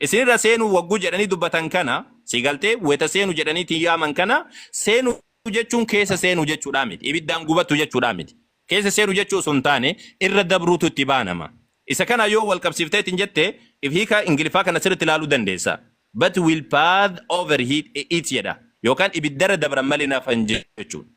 Isin irra seenuu wagguu jedhanii dubbatan kana, sii galtee, wayta seenu jedhanii ittiin yaaman kana, seenu jechuun keessa seenuu jechuudhaa miti. Ibiddaan gubatu jechuudhaa miti. Keessa seenu jechuu osoo hin taane, irra dabruutu itti baanama. Isa kana yoo wal qabsiiftee ittiin jette, if hiika Ingiliffaa kana sirriitti ilaaluu dandeessa. But will path over it jedha. Yookaan ibiddarra dabran malee hin hafan jechuudha.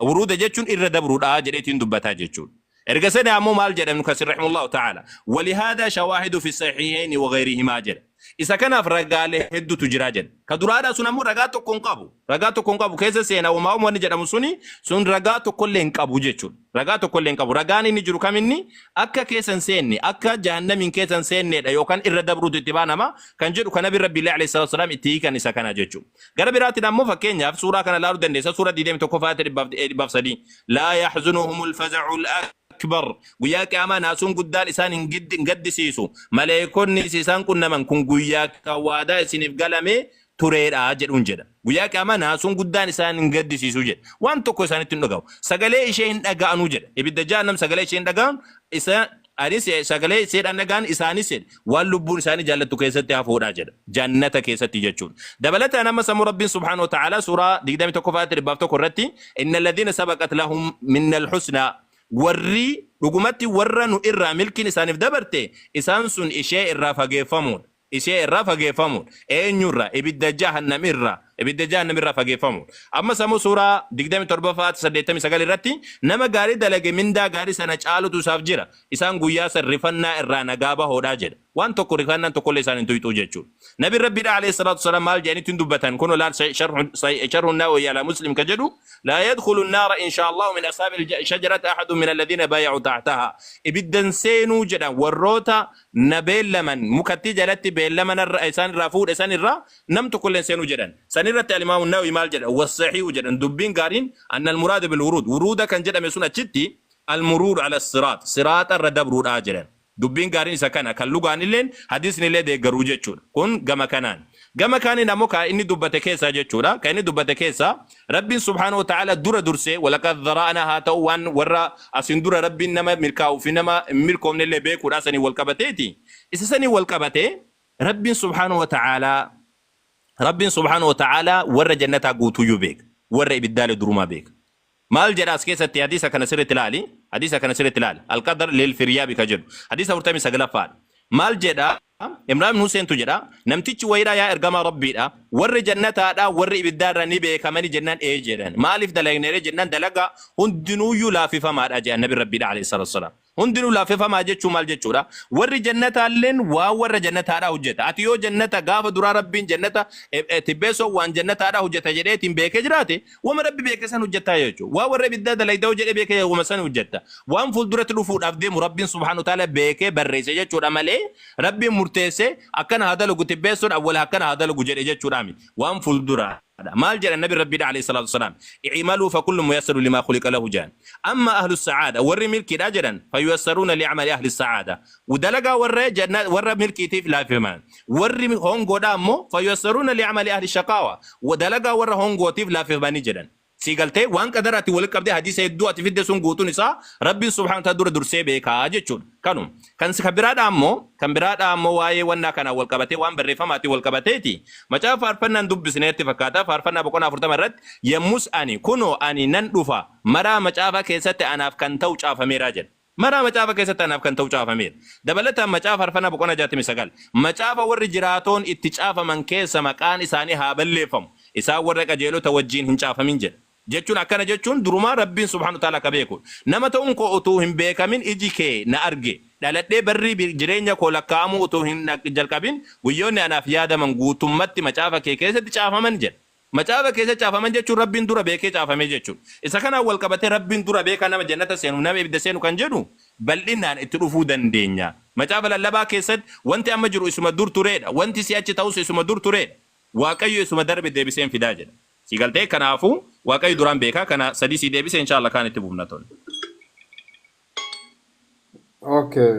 Wuruuda jechuun irra dabruudha jedheetiin dubbataa jechuudha. Erga sani ammoo maal jedha Ibnu Kasiir rahimahullahu ta'aala walihaadaa shawaahidu fi sahiihayni wa ghayrihimaa jedha. Isa kanaaf ragaalee hedduutu jira jedha. Ka duraadhaa sun ammoo ragaa tokko hin qabu. Ragaa tokko hin qabu keessa seena wamaa wamaa wanni jedhamu suni sun ragaa tokkollee hin qabu jechuudha. Ragaa tokkollee hin qabu. Ragaan inni jiru kam inni akka keessa hin seenne akka jahannamiin keessa hin seenneedha yookaan irra dabruutu itti baanama kan jedhu ka nabi rabbiillee alayhi salaatu wasalaam itti hiikan isa kana jechuudha. Gara biraatiin ammoo fakkeenyaaf suuraa kana ilaaluu dandeessa suura 21 faayata 103 laa yaxzunuhumul faza'ul akbar guyyaa qiyaamaa naasuun guddaan isaan hin giddi- hin gaddisiisu maleekonnis isaan qunnaman kun guyyaa kan waadaa isiniif galame tureedha jedhuun jedha guyyaa qiyaamaa naasuun guddaan isaan hin gaddisiisu jedha waan tokko isaanitti hin dhagahu sagalee ishee hin dhaga'anuu jedha ibidda jahannam sagalee ishee hin dhaga'an isa Anis sagalee seedhaan dhaga'an isaanis jedhe waan lubbuun isaanii jaallattu keessatti hafuudha jedha. Jannata keessatti jechuun. Dabalataan ammas ammoo Rabbiin subhaanahu wa ta'aalaa suuraa 21 faayatti 100 irratti inna alladhiina sabaqat lahum minnal husnaa warri dhugumatti warra nu irraa milkiin isaaniif dabarte isaan sun ishee irraa fageeffamuudha. ishee irraa fageeffamuudha. Eenyu irraa? Ibidda Jahannam irraa. Ibidda Jahannam irraa fageeffamuudha. Ammas ammoo suuraa 27ffaa ayata 89 irratti nama gaarii dalage mindaa gaarii sana caalutu isaaf jira. Isaan guyyaa san rifannaa irraa nagaa bahoodha jedha. Waan tokko rifannaan tokkollee isaan hin tuyxuu jechuudha. Nabiin Rabbiidha alayhi salaatu wassalaam maal jedhanii ittiin dubbatan kunoo laal sa- sharhu sa- sharhu nawawi ala muslim ka jedhu laa yadkhulu naara inshaallahu min ashaabi shajarati ahadun min alladhiina baaya'u tahtaha ibiddan seenuu jedhan warroota na beellaman, mukattii jalatti beellama narra, isaan irraa fuudhe san irra nam tokko illee hin seenu jedhan. San irratti Al-Imaamu Nawawii maal jedha? Wassahiihu jedhan, dubbiin gaariin anna al-muraada bil-wuruud, wuruuda kan jedhame sun achitti al-muruuru ala siraax, siraaxa irra dabruudha jedhan. Dubbiin gaariin isa kana, kan lugaan illeen, hadiisni illee deeggaru jechuudha. Kun gama kanaan. Gama kaaniin ammoo ka inni dubbate keessaa jechuudha. Ka inni dubbate keessaa Rabbiin subhaanahu wa ta'aalaa dura dursee walaqad zara'naa haa ta'uu waan warra asiin dura Rabbiin nama milkaa'uu fi nama hin milkoofne illee beekuudhaa saniin wal qabateeti. Isa saniin wal qabatee Rabbiin subhaanahu wa ta'aalaa Rabbiin subhaanahu wa ta'aalaa warra jannataa guutuuyyuu beeka. Warra ibiddaalee durumaa beeka. Maal jedha as keessatti hadiisa kana sirriitti ilaali. Hadiisa kana sirriitti ilaali. Alqadar lil firyaabi ka jedhu. Hadiisa 49ffaadha. Maal jedha? Imraan ibn Huseentu jedha, Namtichi wayiidha yaa ergamaa Rabbiidha, warri jannataadhaa warri ibiddaarraa ni beekamani jennaan ee jedhan. Maaliif dalagneree jennaan dalagaa hundinuuyyuu laaffifamaadha jedhan Nabiin Rabbiidha aleyhi salaatu wassalaam. Hundinuu laaffifamaa jechuun maal jechuudha? Warri jannataalleen waan warra jannataadhaa hojjeta. Ati yoo jannata gaafa duraa Rabbiin jannata tibbeessoon waan jannataadhaa hojjeta jedheetiin beekee jiraate Wama Rabbi beeke san hojjatta jechuudha. Waan warra ibiddaa dalayda yoo jedhee beekee wama san hojjatta. Waan fuulduratti dhufuudhaaf deemu Rabbiin subhaanahu wa ta'aala beekee barreesse jechuudha malee Rabbiin murteessee akkana haa dalagu tibbeessuun awwala akkana haa dalagu jedhe jechuudhaa miti. Waan fuulduraadha. Maal jedhan Nabi Rabbiidha alayhi salaatu wassalaam. I'imaluu fakullu muyassaru limaa khuliqa lahu jedhan. Amma ahlu sa'aada warri milkiidha jedhan fayuassaruuna li'amali ahli sa'aada. Dalagaa warra janna warra milkiitiif laafifaman. Warri hongoodhaa ammoo fayuyassaruna li'amali ahli shaqaawa wa dalagaa warra hongootiif laaffifamani jedhan. Sii galtee? Waan qadaraatiin walitti qabdee hadiisa hedduu ati fidde sun guutuun isaa Rabbiin subhaanahu wa ta'aala dura dursee beeka jechuudha. Kanuma. Kan si kan biraadhaa ammoo kan biraadhaa ammoo waa'ee wannaa kanaan wal qabatee waan barreeffamaatiin wal qabateeti. Macaafa faarfannaan dubbisne natti fakkaata faarfannaa boqonnaa 40 irratti yemmus ani kunoo ani nan dhufa maraa macaafa keessatti anaaf kan ta'u caafameera jedha. Maraa macaafa keessatti anaaf kan ta'u caafameera. Dabalataan macaafa Farfanaa boqonnaa 69 macaafa warri jiraatoon itti caafaman keessa maqaan isaanii haa balleeffamu, isaan warra qajeelota wajjiin hin caafamin jedha. Jechuun akkana jechuun durumaa Rabbiin subhaanahu wa ta'aalaa ka beeku dha. Nama ta'uun koo utuu hin beekamin iji kee na arge, dhaladhee barri jireenya koo lakkaa'amuu utuu hin jalqabin guyyoonni anaaf yaadaman guutummatti macaafa kee keessatti caafaman jedha. Macaafa keessa caafaman jechuun Rabbiin dura beekee caafame jechuudha. Isa kanaan wal qabatee Rabbiin dura beekaa nama jannata seenuuf nama ibidda seenu kan jedhu bal'inaan itti dhufuu dandeenya. Macaafa lallabaa keessatti wanti amma jiru isuma dur tureedha, wanti si'achi ta'us isuma dur tureedha, Waaqayyo isuma darbe deebisee hin fidaa jedha. Sii galtee? Kanaafuu Waaqayyo duraan beekaa kana sadii sii deebise inshaa Allah kaan itti fufna tole. Okay.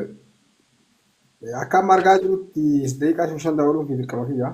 Akka amma argaa jirutti daqiiqaa shan shan dabaluun kee dirqama kiyya.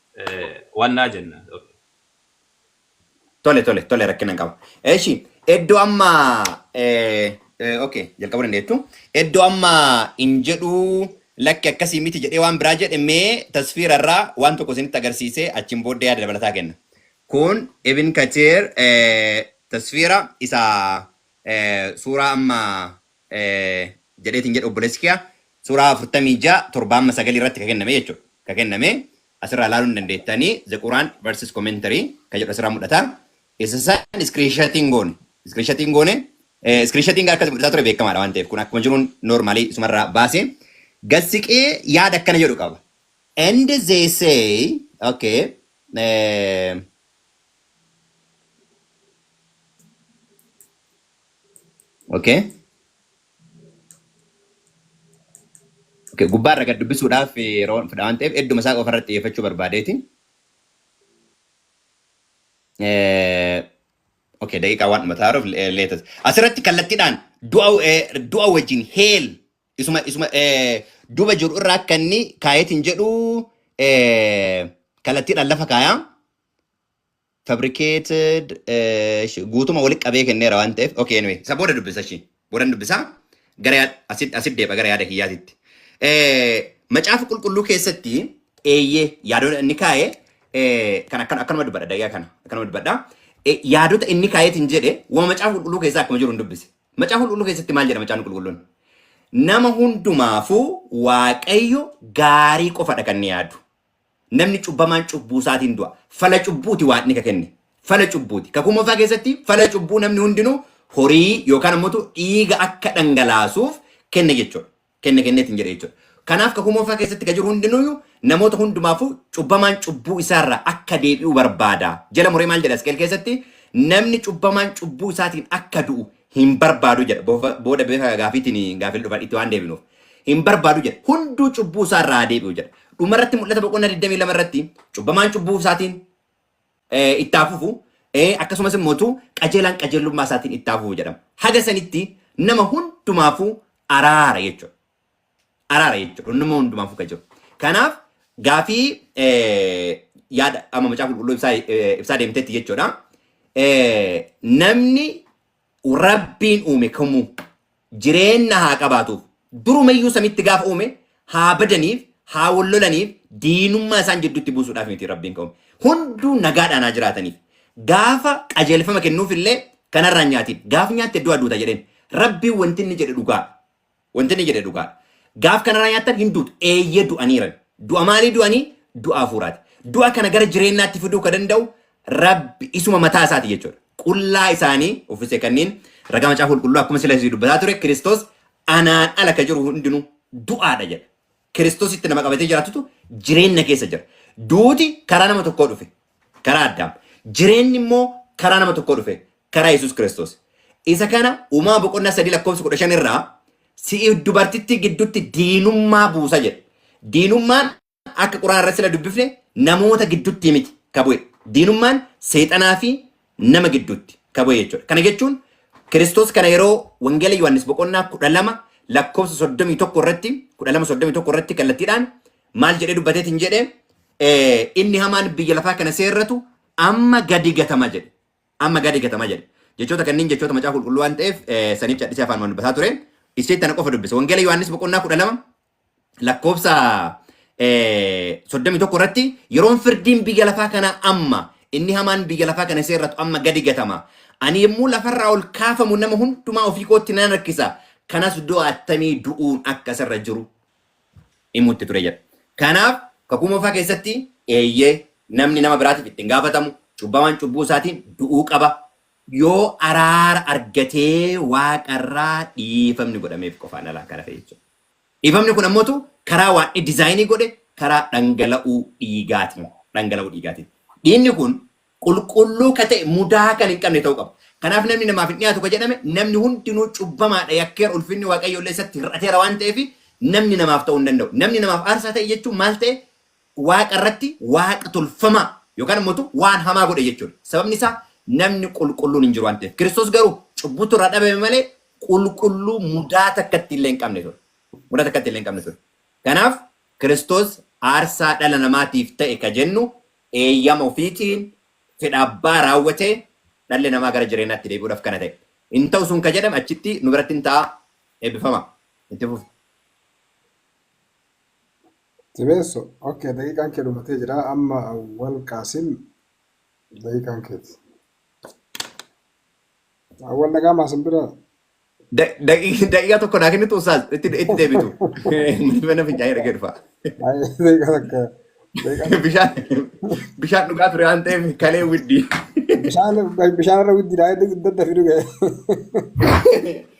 wannaa jenna. Tole tole tole rakkina hin qaba. Eshi iddoo amma okay jalqabuu dandeettu. Iddoo amma hin jedhu lakki akkasii miti jedhee waan biraa jedhe mee tasfiira irraa waan tokko isinitti agarsiisee achiin booddee yaada dabalataa kenna. Kun Ibn Katiir tasfiira isa suuraa amma jedheetin jedha obboleessi kiyaa suuraa 46 7-9 irratti ka kenname jechuudha. Ka kenname asirraa ilaaluu ni dandeettani The Quran versus Commentary ka jedhu asirraa mul'ata. Isa san iskiriinshatiin goone. Iskiriinshatiin goone. Iskiriinshatiin gara akkasii mul'isaa ture beekamaadha waan ta'eef kun akkuma jiruun noormaalii isumarraa baase. Gassiqee yaada akkana jedhu qaba. And they say, okay, eh, Okay. Okay. Gubbaa irra gad dubbisuudhaaf yeroo fudha waan ta'eef hedduma isaa qofa irratti xiyyeeffachuu barbaadeeti. Eh, Okay, daqiiqaa waan dhuma ta'aruuf leetas. Asirratti kallattiidhaan du'a eh, du'a wajjin heel isuma isuma eh, duuba jiru irraa akka inni kaayetiin jedhu eh, kallattiidhaan lafa kaayaa. fabricated eh, sh- guutuma walitti qabee kenneera waan ta'eef okay anyway isa booda dubbisa ishii boodan dubbisa gara yaa- asit asit deeba gara yaada kiyyaatitti Eh, macaafa qulqulluu keessatti eeyyee yaadota inni kaa'e eh, kan akkan akkanuma dubbadha daqiiqaa kana akkanuma dubbadha Eh, yaadota inni kaa'eetiin jedhe waan macaafa qulqulluu keessaa akkuma jiru hin dubbise macaafa qulqulluu keessatti maal jedha macaafni qulqulluun nama hundumaafuu waaqayyo gaarii qofadha kan inni yaadu Namni cubbamaan cubbuu isaatiin du'a. Fala cubbuuti Waaqni ka kenne. Fala cubbuuti. Kakuu moofaa keessatti fala cubbuu namni hundinuu horii yookaan ammoo dhiiga akka dhangalaasuuf kenne jechuudha. Kenne kenneetiin jedhe jechuudha. Kanaaf kakuu moofaa keessatti ka jiru hundinuu namoota hundumaafuu cubbamaan cubbuu isaarraa akka deebi'u barbaada. Jala muree maal jedha Isqeel keessatti? Namni cubbamaan cubbuu isaatiin akka du'u hin barbaadu jedha. Boofa- Booda beeka gaafiitiin gaafil dhufan itti waan deebinuuf. Hin barbaadu jedha. Hunduu cubbuu isaa irraa haa deebi'u jedha. Dhuma irratti mul'ata boqonnaa 22 irratti cubbamaan cubbuu isaatiin eh, itti haa fufu eh, akkasumas immoo tu qajeelaan qajeelummaa isaatiin itti haa fufu jedhama. Haga sanitti nama hundumaafuu araara jechuudha. araara jechuudha. Inni immoo hundumaafuu kan jiru. Kanaaf gaafii eh, yaada amma macaafa qulqulluu ibsaa eh, ibsaa deemtetti jechuudha. Eh, Namni rabbiin uume kamuu jireenya haa qabaatuuf durumayyuu samitti gaafa uume haa badaniif haa wal lolaniif diinummaa isaan jidduutti buusuudhaaf miti rabbiin kan uume. Hunduu nagaadhaan haa jiraataniif. Gaafa qajeelfama kennuuf illee kanarraa nyaatiin. Gaaf nyaatte du'a duuta jedheen. Rabbiin wanti inni jedhe dhugaa. Wanti inni jedhe dhugaadha. Gaaf kanarraa nyaattan hin duutu. Eeyyee du'aniiran. Du'a maalii du'anii? Du'a hafuuraati. Du'a kana gara jireenyaatti fiduu ka danda'u Rabbi isuma mataa isaati jechuudha. Qullaa isaanii uffise kanniin ragaa macaafa qulqulluu akkuma sila isii dubbataa ture Kiristoos anaan ala ka jiru hundinuu du'aadha jedha. Kiristoositti nama qabatee jiraatutu jireenya keessa jira. Duuti karaa nama tokkoo dhufe. Karaa Addaam. Jireenyi immoo karaa nama tokkoo dhufe. Karaa Yesuus Kiristoos. Isa kana uumama boqonnaa sadii lakkoofsa kudha shan irraa si'i dubartittii gidduutti diinummaa buusa jedhe. Diinummaan akka quraana irratti sila dubbifne namoota gidduutti miti ka bu'e. Diinummaan seexanaa fi nama gidduutti ka bu'e jechuudha. Kana jechuun Kiristoos kana yeroo Wangeela Yohaannis boqonnaa kudha lama lakkoofsa soddomii tokko irratti kudha lama soddomii tokko irratti kallattiidhaan maal jedhee dubbateetiin jedhe eh, inni hamaan biyya lafaa kana seerratu amma gadi gatama jedhe. Amma gadi gatama jedhe. Jechoota kanneen jechoota macaa qulqulluu waan ta'eef eh, saniif cadhisee afaan waan dubbataa ture. Isseetti tana qofa dubbisa. Wangeela Yohaannis boqonnaa kudha lama lakkoofsa eh, 31 irratti yeroon firdiin biyya lafaa kanaa amma inni hamaan biyya lafaa kana seerratu amma gadi gatama. Ani yommuu lafarraa ol kaafamu nama hundumaa ofii kootti nan harkisa. Kanas du'a attamii du'uun akka isarra jiru himutti ture jedha. Kanaaf kakuu moofaa keessatti eeyyee namni nama biraatiif ittiin gaafatamu cubbamaan cubbuu isaatiin du'uu qaba. Yoo araara argatee waaqarraa dhiifamni godhameef qofaan alaa kana ta'e jechuudha. Dhiifamni kun ammotu karaa waadni dizaayinii godhe karaa dhangala'uu dhiigaatiin dhangala'uu dhiigaatiin. Dhiigni kun qulqulluu ka ta'e mudaa kan hin qabne ta'uu qaba. Kanaaf namni namaaf hin dhiyaatu ka jedhame namni hundinuu cubbamaadha yakkeera ulfinni Waaqayyoo illee isatti hir'ateera waan ta'eef namni namaaf ta'uu hin danda'u. Namni namaaf aarsaa ta'e jechuun maal ta'e Waaqa irratti waaqa tolfamaa yookaan immoo tu waan hamaa godhe jechuu dha. Sababni isaa namni qulqulluun hin jiru waan ta'eef. Kiristoos garuu cubbuutu irraa dhabame malee qulqulluu mudaa takkatti illee hin qabne ture. Mudaa takkatti illee hin qabne ture. Kanaaf Kiristoos aarsaa dhala namaatiif ta'e ka jennu eeyyama ofiitiin fedha abbaa raawwatee dhalli namaa gara jireenyaatti deebi'uudhaaf kana ta'e. Hin ta'u sun ka jedhame achitti nu biratti hin ta'a. Eebbifama. Itti fufa. Tibeesso ok daqiiqaan kee dhumatee jira amma awwal qaasim daqiiqaan keeti awwal dhagaamaa sin bira Da- daqi- Daqiiqaa tokko naa kennitu ustaaz itti itti deebitu. Mana fincaanii dhagee dhufa. Ay, daqiiqaa takka daqiiqaa takka Bishaan bishaan dhugaa ture waan ta'eef kalee widdii. bishaan bishaan irra widdidhaa daddafi dhuge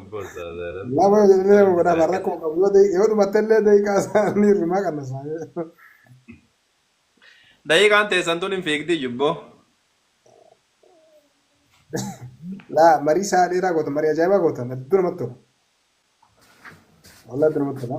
Abbo ustazaa rabbi Nama jedhee nama rabbi godhama isaa rakkoo qananii. qabu yoo dai- yoo dhumatte illee daqiiqaa isaanii irrumaa kan isaanii. Daqiiqaan teessan tun hin fiigdi jubbo. Laa marii isaa dheeraa gootan marii ajaa'ibaa gootan hedduu namatti tola. Walaa hedduu namatti tola.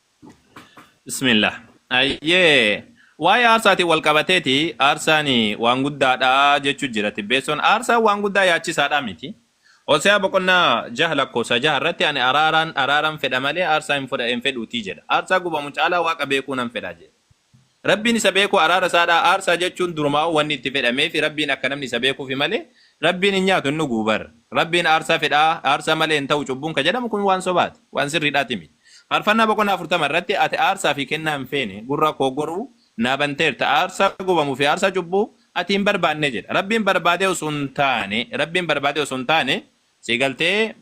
Bismillah. Ayyee. Waa'ee aarsaatiin wal qabateeti aarsaan waan guddaadha jechuu jira tibbeessoon. Aarsaan waan guddaa yaachisaadha miti. Hoseaa boqonnaa jaha lakkoofsa jaha irratti ani araaraan araaran fedha malee aarsaa hin fudha- hin fedhuutii jedha. Aarsaa gubamu caalaa waaqa beekuu nan fedha jedhe. Rabbiin isa beeku araara isaadha aarsaa jechuun durumaa'uu wanni itti fedhameefi Rabbiin akka namni isa beekuufi malee Rabbiin hin nyaatu hin dhuguu bar Rabbiin aarsaa fedha aarsaa malee hin ta'u cubbuun ka jedhamu kun waan sobaati waan sirriidhaati miti Faarfannaa boqonnaa 40 irratti ati aarsaa fi kennaa hin feene gurra koo goruu naa banteerta aarsaa gubamu fi aarsaa cubbuu ati hin barbaanne jedha Rabbiin barbaadee osoo hin taane Rabbiin barbaadee osoo hin taane si galtee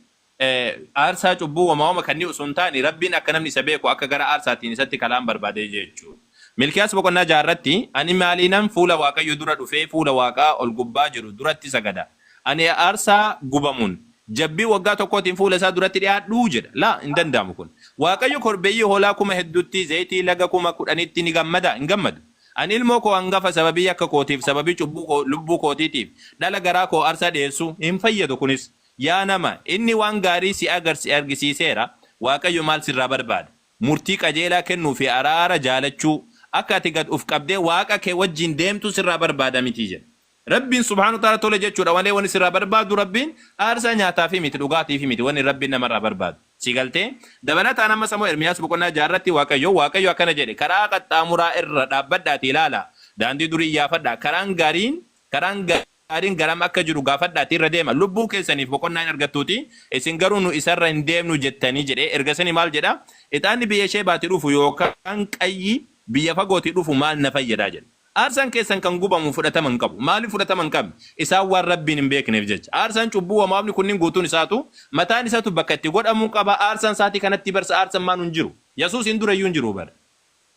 Aarsaa cubbuu woma woma kannii osoo hin taane Rabbiin akka namni isa beeku akka gara aarsaatiin isatti kalaan barbaadee jechu. Milkiyaas boqonnaa 6 irratti Ani maaliinan fuula Waaqayyo dura dhufee fuula Waaqaa ol gubbaa jiru duratti sagada? Ani aarsaa gubamuun, jabbii waggaa tokkootiin fuula isaa duratti dhi'aadhuu? jedha. Laa, hin danda'amu kun. Waaqayyo korbeeyyii hoolaa kuma hedduutti, zayitii laga kuma kudhanitti ni gammadaa? Hin gammadu. Ani ilmoo koo angafa sababii yakka kootiif, sababii cubbuu koo, lubbuu kootiitiif, dhala garaa koo aarsaa dhi'eessuu? Hin fayyadu kunis. Yaa nama, inni waan gaarii si agar si argisiiseera, Waaqayyo maal sirraa barbaada? Murtii qajeelaa kennuu fi araara jaalachuu, akka ati gad uf qabdee Waaqa kee wajjin deemtu sirraa barbaada mitii? jedhe. Rabbiin subhaanahu wa ta'aalaa tole jechuudha malee wanni sirraa barbaadu Rabbiin aarsaa nyaataa fi miti, dhugaatiif miti wanni Rabbiin namarraa barbaadu. Si galtee? Dabalataan ammas ammoo Ermiyaas boqonnaa 6 irratti Waaqayyo, Waaqayyo akkana jedhe, Karaa qaxxaamuraa irra dhaabbadhaatii ilaalaa, daandii durii iyyaafadhaa, karaan gaariin, karaan gaariin. Gaariin garam akka jiru gaafadhaatii irra deema, lubbuu keessaniif boqonnaa in argattuutii, isin garuu, Nu isa irra hin deemnu jettanii jedhe. Ergasanii maal jedha? Ixaanni biyya Sheebaatii dhufu yookaan qayyi biyya fagootii dhufu maal na fayyada? jedhe. Aarsaan keessan kan gubamu fudhatama hin qabu. Maaliif fudhatama hin qabne? Isaan waan Rabbiin hin beekneef jecha. Aarsaan cubbuu wamaamni kunniin guutuun isaatu, mataan isatu bakka itti godhamu qaba. Aarsaan saatii kanattii bar sa'aarsan maanu hin jiru. Yasuusiin dura iyyuu hin jiru bar.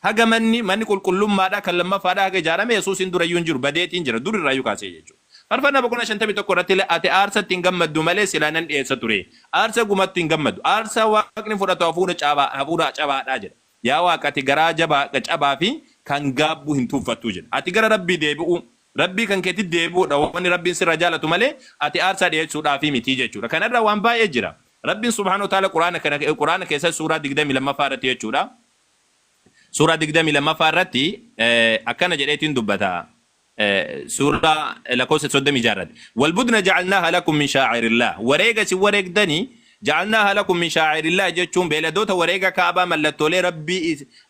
Haga manni, manni qulqullummaadhaa kan lammaffaadhaa haga ijaarame Yesuusiin dura iyyuu hin jiru, badeetiin jira, dur irraa iyyuu kaasee jechuudha. Faarfannaa boqonnaa 51 irratti illee, Ati aarsaatti hin gammaddu malee silaa nan dhi'eessa ture. Aarsaa gumattu hin gammaddu. Aarsaa Waaqni fudhatu hafuura cabaa, hafuura cabaa dha jedha. Yaa Waaq, ati garaa jabaa, cabaa fi kan gaabbu hin tuuffattu jedha. Ati gara Rabbii deebi'uu, Rabbii kan keetitti deebi'uu dha wanni Rabbiin sirraa jaalatu malee ati aarsaa dhi'eessuudhaaf miti jechuudha. Kana irraa waan baay'ee jira. Rabbiin subhaanahu wa ta'aalaa Qur'aana kana, Qur'aana keessatti suuraa 22ffaa irratti jechuudha, Suuraa 22ffaa irratti akkana jedheetiin dubbata. Suuraa lakkoofsa 36 irratti. Walbudna ja'alnaaha lakum min shaa'irillaa. Wareega isin wareegdani ja'alnaaha lakum min shaa'irillaa jechuun beeladoota wareega kaabaa mallattoolee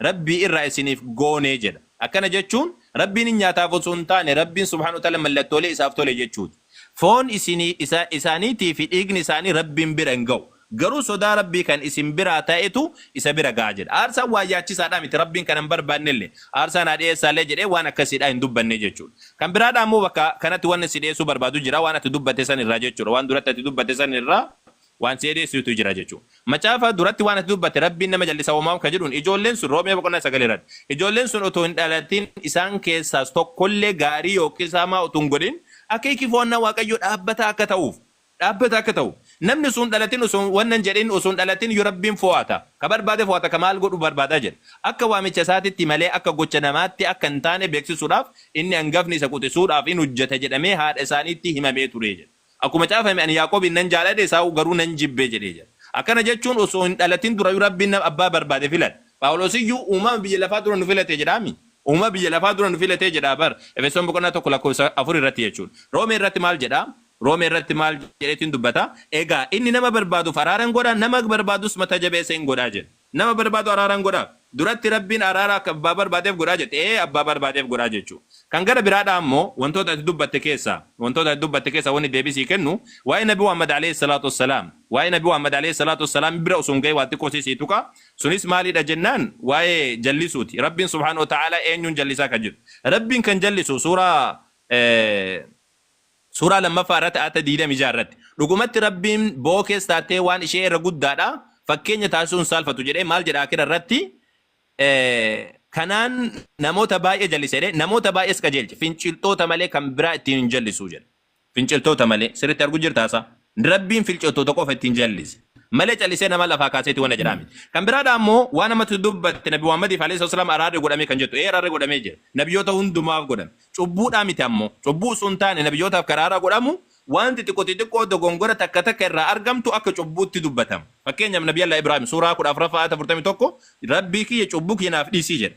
rabbii irraa isiniif goonee jedha. Akkana jechuun rabbiin hin nyaataaf osoo hin taane rabbiin subhaanahu wa ta'ala mallattoolee isaaf tole jechuuti. Foon isinii, isa, isaaniitii fi dhiigni isaanii Rabbiin bira hin gahu. Garuu sodaa Rabbii kan isin biraa ta'etu isa bira gaha jedha. Aarsaan waan yaachisaadhaa miti, Rabbiin kana hin barbaannellee. Aarsaan haa dhiyeessaallee jedhee waan akkasiidhaa hin dubbanne jechuudha. Kan biraadhaa immoo bakka kanatti wanni si dhiyeessuu barbaadu jira, waan ati dubbatte san irraa jechuudha. Waan duratti ati dubbatte san irraa waan si edeessuutu jira jechu macaafa duratti waan ati dubbatte rabbiin nama jallisa womaam ka jedhuun ijoolleen sun roomee boqonnaa 9 irratti ijoolleen sun otoo hin dhalatiin isaan keessaas tokkollee gaarii yookiis hamaa utuu hin godhin akeeki fo'annaa waaqayyoo dhaabbataa akka ta'uuf dhaabbata akka ta'u namni utuu hin dhalatin utuu wanna hin jedhin utuu hin dhalatin yoo rabbiin fo'ata ka barbaade fo'ata ka maal godhu barbaada jedha akka waamicha isaatitti malee akka gocha namaatti akka hin taane beeksisuudhaaf inni angafni isa quxisuudhaaf in hojjeta jedhamee haadha isaaniitti himamee ture jedha. Akkuma caafame, Ani Yaaqoobiin nan jaalladhe, Esaawuu garuu nan jibbe jedhee jira. Akkana jechuun osoo hin dhalatin durayyuu Rabbiin nama abbaa barbaade filata. Phaawulos iyyuu uumama biyya lafaa dura nu filate jedhaa mii? Uumama biyya lafaa dura nu filate jedhaa bar. Efesoon boqonnaa 1 lakkoofsa 4 irratti jechuu dha. Roomee irratti maal jedha? Roomee irratti maal jedheetiin dubbata? Egaa inni nama barbaaduuf araara in godha, nama barbaadus mata jabeessa in godha jedha. Nama barbaadu araaran godhaaf. Duratti Rabbiin araara akka abbaa barbaadeef godhaa jette. Ee abbaa barbaadeef godhaa jechuu. Kan gara biraadhaa ammoo wantoota ati dubbatte keessaa, wantoota ati dubbatte keessaa wanni deebii sii kennu, waa'ee Nabi Muhammad aleyh salaatu wassalaam. Waa'ee Nabi Muhammad aleyh salaatu wassalaam bira osoo hin gahin waa xiqqoo sii sii tuqa. Sunis maalidha jennaan waa'ee jallisuuti. Rabbiin subhaanahu wa ta'aalaa eenyuun jallisaa kan jedhu. Rabbiin kan jallisu suuraa. Suuraa 2ffaa irratti aayata 26 irratti, Dhugumatti Rabbiin bookees taatee waan ishee irra guddaadha, fakkeenya taasisuu hin saalfatu jedhee maal jedha Aakhira irratti, Kanaan namoota baay'ee jallise jedhee namoota baay'ees qajeelche, finciltoota malee kan biraa ittiin hin jallisu jedha. Finciltoota malee. Sirritti argu jirtaa saa? Rabbiin filcottoota qofa ittiin jallise. Malee callisee nama lafaa kaaseeti waan jedhaa miti. Kan biraadha ammoo waan ammatti dubbatte Nabi Muhammadiif alayhi salatu wasalaam araarri godhamee kan jettu. Ee araarri godhamee jira. Nabiyyoota hundumaaf godhame. Cubbuudhaa miti ammoo. Cubbuu osoo hin taane nabiyyootaaf kan araaraa godhamu waan xixiqqo xixiqqoo dogongora takka takka irraa argamtu akka cubbuutti dubbatama. Fakkeenyaaf Nabi Allah Ibrahim suuraa 14ffaa ayata 41 Rabbii kiyya cubbuu kiyya naaf dhiisi jedhe.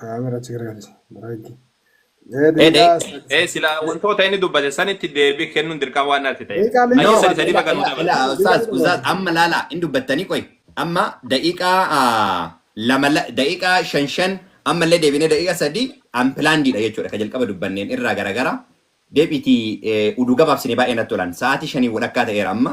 Kaamera Tigraay Biraanki. Ee Dhee dhee daqiiqaa sadii dhee sila sadii. wantoota inni dubbate sanitti deebii kennuun dirqama waan natti ta'eef. Daqiiqaa meeqa Ayyee No, sadi sadi barbaadda? baga ila, nu ila, dabarsi. ila, Daqiiqaa ustaaz, meeqa ustaaz, barbaadda? amma laala, hin dubbattanii qoy. Amma daqiiqaa ah, lama, la- daqiiqaa shan shan, amma illee deebinee daqiiqaa sadi, unplannedidha jechuudha. Ka jalqaba dubbanneen irraa garagara. Deebiitii eh, uduu gabaabsine baay'ee natti tolan. Sa'aatii shanii walakkaa ta'eera amma.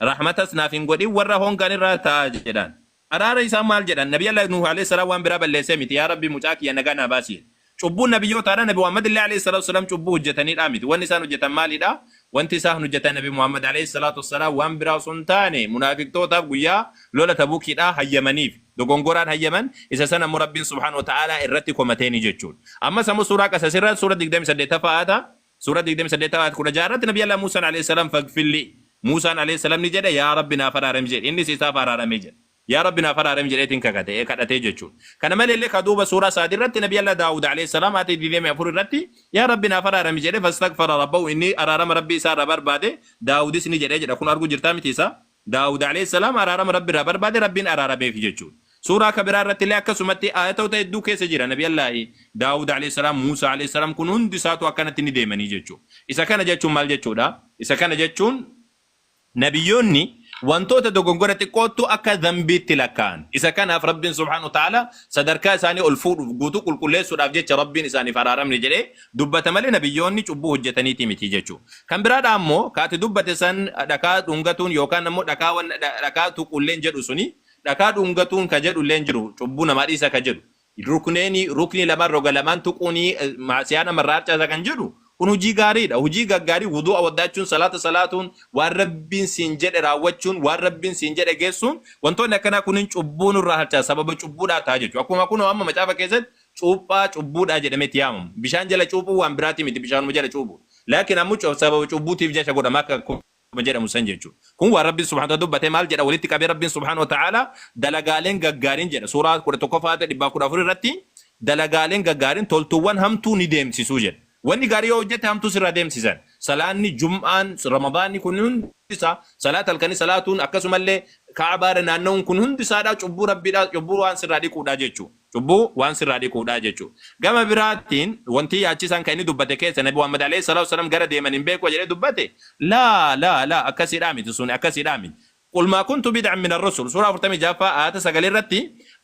Rahmatas naaf hin godhin warra hongan irraa ta'a jedhaan. Araara isaan maal jedhan? Nabiyyallah Nuuh aleyh salaam waan biraa balleessee miti yaa Rabbi mucaa kiyya nagaa naa baasi jedhe. Cubbuun nabiyyootaadha nabi Muhammadillee aleyh salaatu wasalaam cubbuu hojjataniidhaa miti. Wanni isaan hojjatan maalidha? Wanti isaan hojjatan nabi Muhammad aleyh salaatu wasalaam waan biraa osoo hin taane munaafiqtootaaf guyyaa lola Tabukiidhaa hayyamaniif. Dogongoraan hayyaman isa san ammoo Rabbiin subhaanahu wa ta'aalaa irratti komateeni jechuudha. Ammas ammoo suuraa Qasas irra suura 28ffaa aayata Suuraa 28 ayat 16 irratti Nabi Allah Muusaan alayhi salaam faghfir lii. Muusaan alayhi salaam ni jedhe yaa Rabbi naaf araarami jedhe. Innis isaaf araarame jedhe. Yaa Rabbi naaf araarami jedheetiin kakate, ee kadhate jechuudha. Kana maleellee ka duuba suuraa Saad irratti Nabi Allah Daawud alayhi salaam ayat 24 irratti yaa Rabbi naaf araarami jedhe fastaghfara Rabbahu inni araarama Rabbii isaa irraa barbaade Daawudis ni jedhe jedha. Kun arguu jirtaa miti isaa? Daawud, aleyh salaam, araarama Rabbi irraa barbaade, Rabbiin araarameefi jechuudha. Suuraa ka biraa irratti illee akkasumatti aayatoota hedduu keessa jira, Nabi Allaahi Daawud, aleyh salaam, Muusaa, aleyh salaam, kun hundi isaatu akkanatti ni deemanii jechuudha. Isa kana jechuun maal jechuudha? Isa kana jechuun. Nabiyyoonni wantoota dogongora xiqqoottu akka dhanbiitti lakkaa'an. Isa kanaaf Rabbiin subhaanahu wa ta'aalaa sadarkaa isaanii ol fuudhuuf, guutuu qulqulleessuudhaaf jecha Rabbiin isaaniif araaramne jedhee dubbata malee nabiyyoonni cubbuu hojjetaniitii miti jechu. Kan biraadhaa ammoo ka ati dubbate san dhakaa dhungatuun yookaan ammoo dhakaa wan dhakaa tuquulleen jedhu suni dhakaa dhungatuun ka jedhulleen jiru cubbuu namaa dhiisa ka jedhu rukneeni ruknii lamaan roga lamaan tuquuni maasiyaa nama irraa harcaasa kan jedhu kun hujii gaariidha hujii gaggaarii wudu'a waddaachuun salaata salaatuun waan rabbiin siin jedhe raawwachuun waan rabbiin siin jedhe geessuun wantoonni akkanaa kunin cubbuu nurraa harcaasa sababa cubbuudhaa ta'a jechu akkuma kunoo amma macaafa keessatti cuuphaa cubbuu dha jedhamee itti yaamamu. Bishaan jala cuuphuun waan biraatii miti bishaanuma jala cuuphu. Laakiin ammo sababa cubbuutiif jacha godhama akka akkuma jedhamu san jechu. Kun waan Rabbiin subhaanahu wa ta'aala dubbate maal jedha walitti qabee Rabbiin subhaanahu wa ta'aala dalagaaleen gaggaariin jedha suuraa 11ffaa aayata 114 irratti dalagaaleen gaggaariin toltuuwwan hamtuu ni deemsisu jedha. Wanni gaarii yoo hojjatte hamtuu sirraa deemsisan. Salaanni, jum'aan, ramadaanni kun hundi isaa salaata halkanii salaatuun akkasumallee ka'abaa irra naanna'uun kun hundi isaadhaa cubbuu Rabbiidhaa cubbuu waan sirraa dhiquudhaa jechuu. Cubbuu waan sirraa dhiquudha jechu. Gama biraatiin wantii yaachisaan kan inni dubbate keessa Nabi Muhammad Aleyh Salaatu Wasalaam gara deeman hin beekua jedhee dubbate laa laa laa akkasiidhaa miti suni akkasiidhaa miti Qul maa kuntu bid'an min arrusul suuraa 46ffaa aayata 9 irratti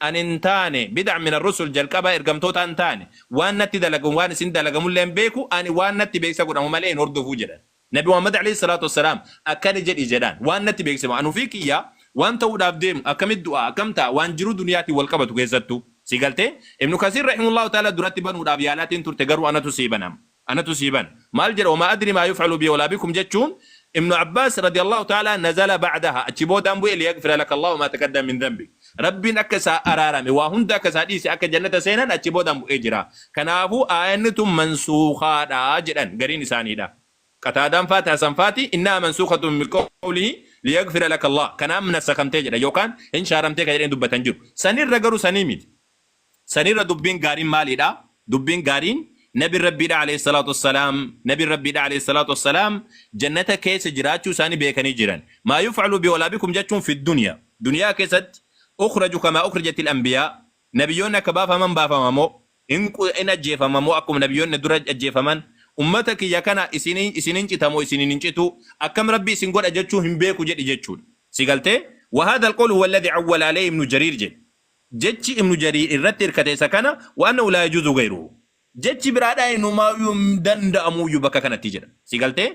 an hin taane bid'an min arrusul jalqabaa ergamtootaa hin taane waan natti dalagan waan isin dalagamullee hin beeku ani waan natti beeksa godhamu malee hin hordofu jedhan. Nabi Muhammad Aleeyhi Salaatu Wassalaam akkana jedhi jedhaan, waan natti beeksifame, an ufii kiyya waan ta'uudhaaf deemu akkamitti du'a, akkam ta'a, waan jiruu duniyaatiin wal qabatu keessattuu. Sii galtee? Ibnu Kasiir Rahimahullahu Ta'aalaa duratti banuudhaaf yaalaatiin turte garuu anatu sii bana amma. Anatu sii bana. Maal jedha wamaa adrii maa yuf'alu bii walaa bikum jechuun Ibnu Abbaas Radiyallahu Ta'aalaa nazala ba'dahaa achi boodaan bu'e liyaghfira laka Allaahu maa taqaddama min dhanbik. Rabbiin akka isaa araarame, waa hunda akka isaa dhiise, akka jannata seenan achi boodaan bu'ee jira. Kanaafuu aayanni tun mansuukhaadha jedhan gariin isaaniidha. Qataadaan faati, Hasan faati, innahaa mansuukhatun biqawlihi liyaghfira laka Allaah, kanaan nasakamtee jedhan yookaan hin shaaramtee ka jedheen dubbatan jiru. Sanirra garuu sanii miti. San irra dubbiin gaariin maaliidha? Dubbiin gaariin Nabiin Rabbiidhaa Aleyh salaatu wassalaam Nabiin Rabbiidhaa Aleyh salaatu wassalaam Jannata keessa jiraachuu isaanii beekanii jiran. Maa yuf'alu bi wala bikum jechuun fi dunya, duniyaa keessatti, ukhraju kamaa ukhrijatil anbiyaa, Nabiyyoonni akka baafaman baafama moo? Hin qu hin ajjeefama moo akkuma Nabiyyoonni na dura ajjeefaman? Ummata kiyya kana isin isin hin cita moo isiniin hin citu? Akkam Rabbi isin godha jechuu hin beeku jedhi jechuudha. Si galtee? Wa haadhal qawlu huwa alladhi awwala aleyhi ibnu Jariir jedhe. Jechi Ibnu Jariir irratti hirkate isa kana, wa annahu laa yajuuzu ghayruhu. Jechi biraadhaa inumaayuu hin danda'amuuyyu bakka kanatti jedha. Si galtee?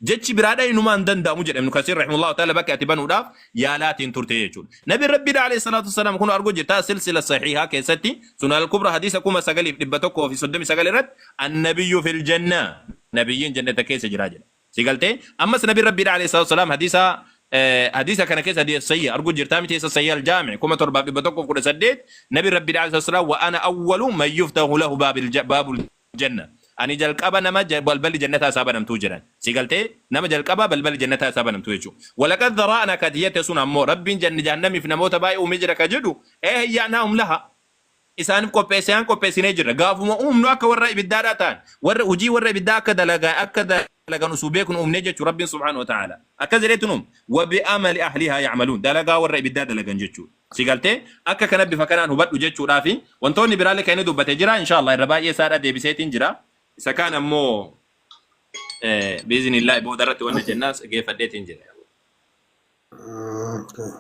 Jechi biraadhaa inumaa hin danda'amu jedha Ibnu Kasiir rahimahullahu ta'aala bakka ati banuudhaaf yaalaatiin turte jechuudha. Nabiin Rabbiidhaa alayhi salaatu wassalaam kunoo arguu jirtaa silsila sahiihaa keessatti Sunan al-Kubraa hadiisa 9139 irratti Annabiyyu fil jannah, Nabiyyiin jannata keessa jira jedha. Si galtee? Ammas Nabiin Rabbiidha alayhi salaatu wasalaam hadiisa hadiisa kana keessa hadiisa sayya arguu jirtaa miti isa sayya aljaami kuma torbaaf dhibba tokkoof kudha saddeet Nabiin Rabbiidha alayhi salaatu wasalaam wa ana awwalu man yuftahu lahu baabil ja- baabul janna ani jalqaba nama ja- balballi jannataa isaa banamtuu jedhan si galtee nama jalqaba balballi jannataa isaa banamtuu jechuu walaqad daraa'na kati jette sun ammoo Rabbiin janni jahannamiif namoota baay'ee uumee jira ka jedhu ee hiyyaanaa hum laha isaaniif qopheessean qopheessinee jirra. Gaafuma uumnu akka warra ibiddaadhaa ta'an, warra hujii warra ibiddaa akka dalagaa akka dalagan usuu beeknu uumnee jechu Rabbiin subhaanahu wa ta'aalaa. Akkas jedheetu nu uume, wa bi amali ahlihaa ya'maluun, dalagaa warra ibiddaa dalagan jechuudha. Si galtee? Akka kana bifa kanaan hubadhu jechuudhaafi. Wantoonni biraallee kan inni dubbate jira, inshaa Allaah irra baay'ee isaadhaa deebiseetiin jira. Isa kaan ammoo bi'iznillaahi boodarratti wanna Okay. jennaa geeffadheetiin jira.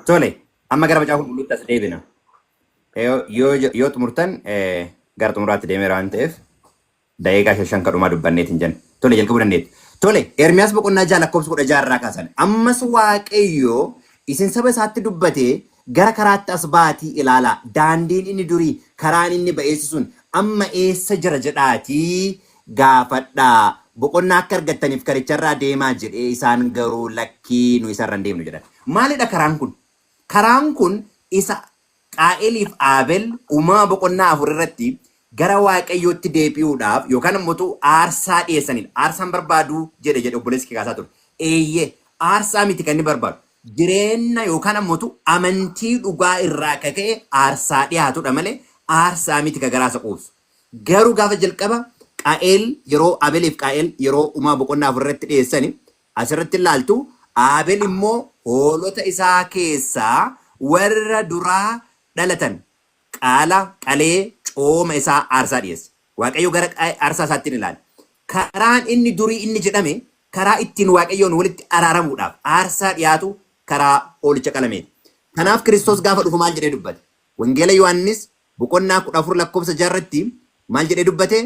Tole, amma gara macaafa qulqulluutti as deebina. Yoo yoo yoo xumurtan eh, gara xumuraatti deemeera waan ta'eef daqiiqaa shan shan kadhumaa dubbanneet hin jennu. Tole jalqabuu dandeetti. Tole Ermiyaas boqonnaa ja'a lakkoofsa kudha ja'a irraa kaasan. Ammas Waaqayyo isin saba isaatti dubbatee gara karaatti as ba'aatii ilaalaa. Daandiin inni durii karaan inni ba'eessi sun amma eessa jira jedhaatii gaafadhaa, boqonnaa akka argattaniif karicharraa deemaa jedhe, isaan garuu lakkii nu isarra hin deemnu jedhan. Maalidha karaan kun? Karaan kun isa Qaa'eliif Aabel Uumama boqonnaa afur irratti gara Waaqayyootti deebi'uudhaaf yookaan immoo utuu aarsaa dhiyeessanidha. Aarsaan barbaaduu jedhe jedhe obboleessi kee kaasaa ture. Eeyyee aarsaa miti kan inni barbaadu. Jireenna yookaan ammoo utuu amantii dhugaa irraa akka ka'e aarsaa dhiyaatudha malee aarsaa miti ka garaasa quubsu. Garuu gaafa jalqaba Qaa'eel yeroo Abeliif Qaa'eel yeroo Uma boqonnaa afur irratti dhiyeessani asirratti hin laaltu Abel immoo hoolota isaa keessaa warra duraa dhalatan qaala qalee cooma isaa aarsaa dhiyeesse. Waaqayyo gara aarsaa isaatti hin ilaale. Karaan inni durii inni jedhame karaa ittiin Waaqayyoon walitti araaramuudhaaf aarsaa dhiyaatu karaa hoolicha qalameeti. Kanaaf Kiristoos gaafa dhufu maal jedhee dubbate? Wangeela Yohaannis boqonnaa 14 lakkoofsa 6 irratti maal jedhee dubbate?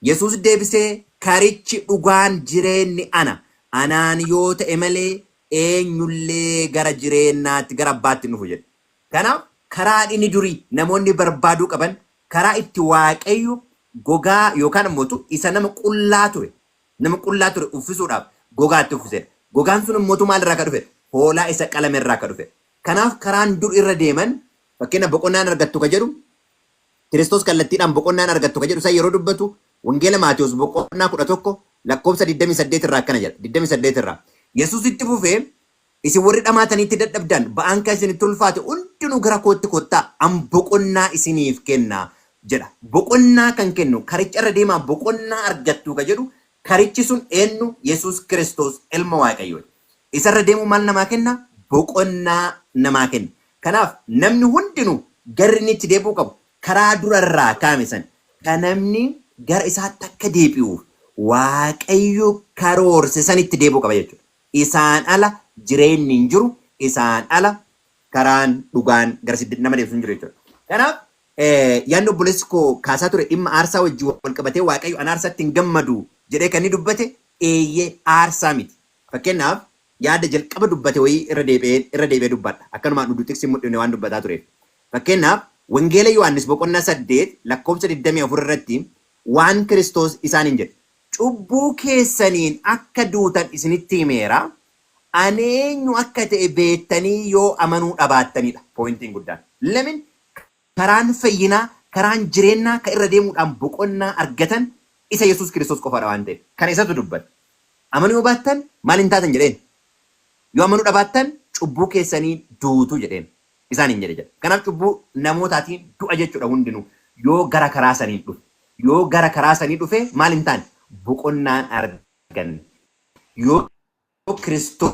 Yesuus deebisee karichi dhugaan jireenni ana, anaan yoo ta'e malee eenyullee gara jireennaatti gara abbaatti hin dhufu jedhe. Kanaaf karaan inni durii namoonni barbaaduu qaban karaa itti Waaqayyo gogaa yookaan immoo isa nama qullaa ture nama qullaa ture uffisuudhaaf gogaa itti uffisedha. Gogaan sun immoo maal irraa akka dhufedha? Hoolaa isa qalame irraa akka dhufedha. Kanaaf karaan dur irra deeman, fakkeenyaaf boqonnaan argattu ka jedhu, Kiristoos kallattiidhaan boqonnaan argattu ka jedhu san yeroo dubbatu Wangeela Maatewos boqonnaa 11 lakkoofsa 28 irraa akkana jedha, 28 irraa. Yesuus itti fufee, Isin warri dhamaataniitti dadhabdan, ba'aan ka isinitti ulfaate hundinuu gara kootti kottaa, an boqonnaa isiniif kenna jedha. Boqonnaa kan kennu, karicha irra deemaa boqonnaa argattu ka jedhu, karichi sun eennu? Yesuus Kiristoos Ilma Waaqayyooti. Isarra deemuun maal namaa kenna? Boqonnaa namaa kenna. Kanaaf namni hundinuu garri inni itti deebi'uu qabu karaa dura irraa kaa'ame sana. Ka namni gara isaatti akka deebi'uuf Waaqayyo karoorse sanitti deebi'uu qaba jechuudha. Isaan ala jireenni hin jiru, isaan ala karaan, dhugaan garasitti nama deebisu hin jiru jechuudha. Kanaaf yaadni obboleessi koo kaasaa ture dhimma aarsaa wajjin wal qabatee Waaqayyo an aarsaatti hin gammadu jedhee kan inni dubbate eeyyee aarsaa miti. Fakkeennaaf, yaada jalqaba dubbate wayii irra deebi'een irra deebi'ee dubbadha. Akkanumaan uduu xiqsi hin mudhifne waan dubbataa tureef. Fakkeennaaf, Wangeela Yohaannis boqonnaa 8 lakkoofsa 24 irratti waan Kiristoos isaaniin jedhe. Cubbuu keessaniin akka duutan isinitti himeera, ani eenyu akka ta'e beettanii yoo amanuu dhabaattanidha pointiin guddaan. Lemin? Karaan fayyinaa, karaan jireennaa ka irra deemuudhaan boqonnaa argatan isa Yesuus Kiristoos qofaa dha waan ta'eef. Kana isatu dubbate. Amanuu yoo baattan maal hin taatan jedheen. Yoo amanuu dhabaattan cubbuu keessaniin duutu jedheen. Isaaniin jedhe jedha. Kanaaf cubbuu namootaatiin du'a jechuu dha hundinuu. Yoo gara karaa saniin dhufe. Yoo gara karaa sanii dhufe maal hin taane? Boqonnaan arganne. Yoo Kiristoos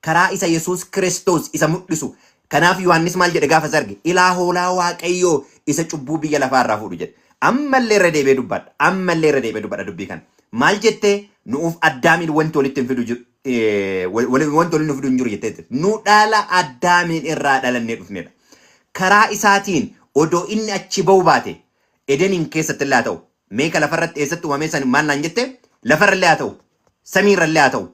karaa isa Yesuus Kiristoos isa mul'isu. Kanaaf Yohaannis maal jedhe gaafa isa arge? Ilaa hoolaa Waaqayyoo isa cubbuu biyya lafaa irraa fuudhu jedhe. Amma illee irra deebi'ee dubbadha. Amma illee irra deebi'ee dubbadha dubbii kana. Maal jettee? Nu'uuf Addaamiin wanti walitti hin fidu jiru, eh, wal- wal- wanti walitti nu fidu hin jiru jettee jirti. Nu dhala Addaamiin irraa dhalannee dhufnedha. Karaa isaatiin odoo inni achi ba'uu baate Edeniin keessatti illee haa ta'u. Meeka lafarratti eessatti uumamee san maal naan jette? Lafarra illee haa ta'u. samii irrallee haa ta'u,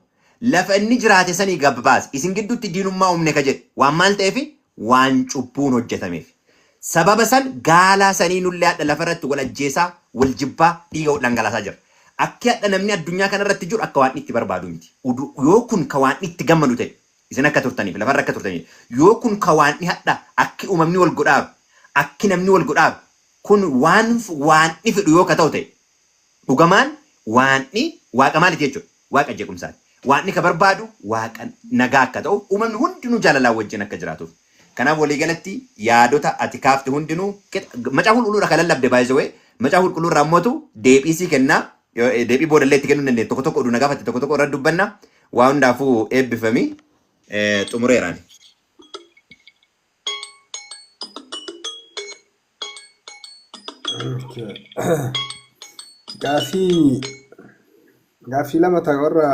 lafa inni jiraate sanii gab baase, isin gidduutti diinummaa uumne ka jedhe, waan maal ta'eefi? Waan cubbuun hojjatameefi. Sababa san gaalaa sanii nullee hadha lafa irratti wal ajjeesaa, wal jibbaa, dhiiga wal dhangalaasaa jirra. Akki hadha namni addunyaa kana irratti jiru akka Waaqni itti barbaadu miti. Udu, yoo kun ka Waaqni itti gammadu ta'e, isin akka turtaniif, lafa irra akka turtaniif, yoo kun ka Waaqni hadha akki uumamni wal godhaaru, akki namni wal godhaaru, kun waan Waaqni fedhu yoo ka ta'u ta'e, Dhugamaan Waaqni Waaqa maaliti jechu dha? Waaqa jeequmsaati. Waaqni ka barbaadu Waaqa nagaa akka ta'uuf, uumamni hundinuu jaalalaan wajjin akka jiraatuuf. Kanaaf walii galatti yaadota ati kaafte hundinuu qixa. Macaafa Qulqulluu irraa kan lallabde by the way, Macaafa Qulqulluu irraa immoo deebii sii kenna. Deebii booda illee itti kennuu ni dandeenya. Tokko tokko oduu na gaafatte tokko tokko irratti dubbanna. Waa hundaafuu eebbifami. Xumureera ani. Gaaffii gaaffii lama ta'e warra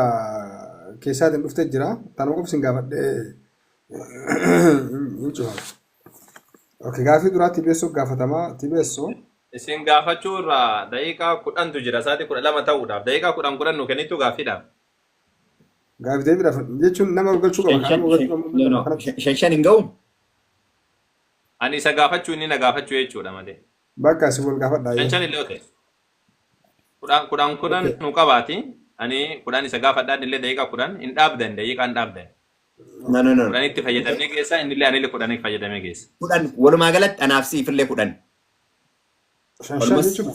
keessaatiin dhufte jira. Tanuma qofa isin gaafadhee hin cufama. Okay, gaaffii duraa TBSO gaafatama. TBSO Isin gaafachuu irraa daqiiqaa kudhantu jira. Sa'aatii kudha lama ta'uudhaaf. Daqiiqaa kudhan kudhan nu kennitu gaaffiidhaaf. gaaffii deebiidhaaf jechuun nama galchuu qaba. Kan nama galchuu qabu nama kanatti. Shan shan hin ga'u? Ani isa gaafachuu inni na gaafachuu jechuudha malee. Bakka isin wal gaafadhaa Shan yoo. shan illee ote. Kudhan kudhan kudhan Okay. nu qabaati. Ani kudhan isa gaafadhaa inni illee daqiiqaa kudhan hin dhaabdan daqiiqaa hin dhaabdan. No, no, no. Kudhanitti fayyadamee geessa inni illee ani illee kudhanitti fayyadamee geessa. Kudhan walumaa galatti anaaf siif illee kudhan. Shan shan Walumas- jechuudha.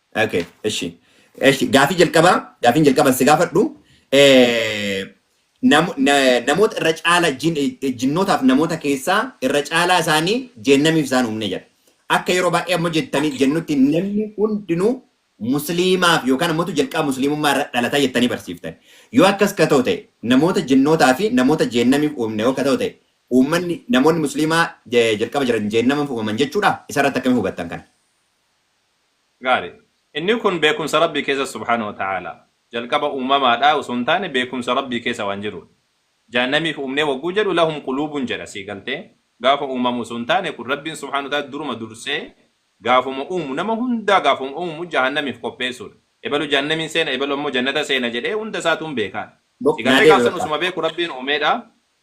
Okay, eshi. Eshi, gaafii jalqabaa, gaafiin jalqabaan si gaafadhu. Eh, nam, na, namoota irra caala jin, eh, jinnootaaf namoota keessaa irra caalaa isaanii jeennamiif isaan uumne jedha. Akka yeroo baay'ee ammoo jettanii jennutti namni hundinuu musliimaaf yookaan ammoo jalqaba musliimummaa irra dhalata jettanii barsiiftan. Yoo akkas ka ta'u ta'e namoota jinnootaa fi namoota jeennamiif uumne yoo ka ta'u ta'e uummanni namoonni musliimaa eh, jalqaba jiran jeennamiif uumaman jechuudha. Isarratti akkamiin hubattan kana? Gaarii. Inni kun beekumsa Rabbii keessa subhaanahu wa ta'aala. Jalqaba uumamaadhaa osoo hin taane beekumsa Rabbii keessa waan jiruudha. Jahannamiif uumnee wagguu jedhu lahum quluubun jedha sii galtee? Gaafa uumamu osoo hin taane kun Rabbiin subhaanahu wa ta'aala duruma dursee gaafuma uumu nama hundaa gaafuma uumu jahannamiif qopheessuudha. Ebalu jahannamiin seena ebalu ammoo jannata seena jedhee hunda isaatu hin beekaa. Sii galtee gaaf san osuma beeku Rabbiin uumeedha.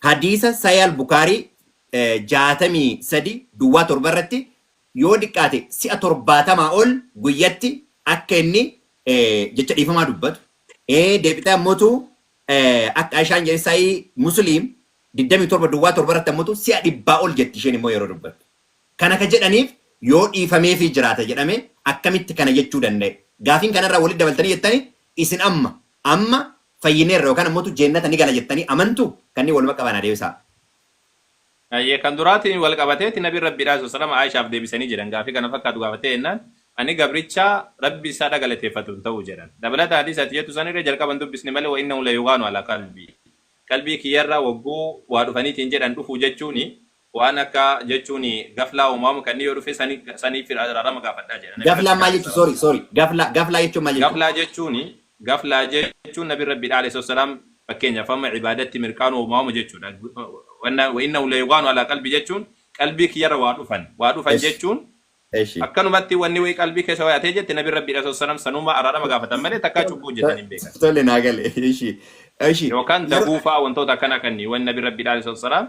Hadiisa Sahih Al-Bukhaarii 63 duwwaa 7 irratti yoo diqqaate si'a 70 ol guyyatti akka inni jecha dhiifamaa dubbatu, ee deebitee ammotu akka Aishaan jedhe Sahih Muslim 27 duwwaa 7 irratti ammotu si'a dhibbaa ol jetti isheen immoo yeroo dubbattu. Kana ka jedhaniif yoo dhiifameefii jiraata jedhame akkamitti kana jechuu danda'e? Gaafiin kanarraa walitti dabaltanii jettani isin amma amma fayyineerra yookaan ammotu jeennata ni gala jettanii amantu? Kanneen waluma qabaa naa deebisaa. Hayyee kan duraatiin wal qabateeti nabiin rabbiidhaa swslam Aishaaf deebisanii jedhan gaafii kana fakkaatu gaafattee jennaan ani gabricha rabbi isaadha galateeffatu hin ta'u jedhan dabalata hadiisa ati jettu sanirra jalqaba hin dubbisne malee wa'innahu layughaanu ala qalbii qalbii kiyyarra wogguu waa dhufaniitiin jedhan dhufuu jechuuni Waan akka jechuun gaflaa uumaamu kan yoo dhufe sani saniif araarama gaafadhaa jedha nabi Gaflaa rabbi maal jechu sorry sorry gaflaa gaflaa jechuun maal jechu? Gaflaa jechuun gaflaa jechuun nabi rabbi dha alayhi salaam fakkeenyaaf amma ibaadatti mirqaanu uumaamu jechuudha wanna wa innahu layugaanu alaa qalbi jechuun qalbii kiyyarra waa dhufan waa dhufan Esh jechuun eshi akkanumatti wanni wayi qalbii keessa wayatee jette nabi rabbi dha alayhi salaam sanuma araarama gaafatan malee takkaa cubbuu hojjetan hin beekan tole naa gale eshi eshi yookaan yeroo daguufaa wantoota akkana kanni wanni nabi rabbi dha alayhi salaam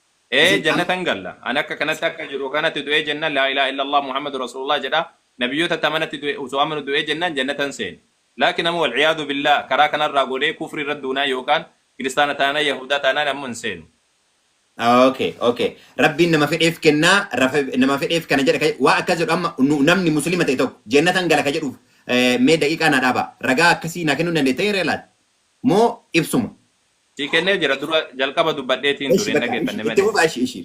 ee Isin am jannatan galla an akka kanatti akka jiru kanatti du'ee jennan laa ilaaha illallah muhammadu rasulullah jedha nabiyyota tamanatti du'e osoo amanu du'ee jennaan jannatan seena laakin amma wal iyaadu billaah karaa kanarraa goonee kufri irra duunaa yookaan kiristaana taanaan yahuudaa taanaan amma hin seenu Okay, okay. Rabbiin nama fedheef kennaa, rafa- nama fedheef kana jedha. ka- Waa akkas jedhu amma nu- namni muslima ta'e tokko jennatan gala ka jedhuuf eh, mee daqiiqaa naa dhaabaa. Ragaa akkasii naa kennuu dandeettee hiree laata? Moo ibsuma? Sii kennee jira dura jalqaba dubbadheetiin Eshi ture hin bakka dhageeffanne ishi itti malee. fufa ishi ishi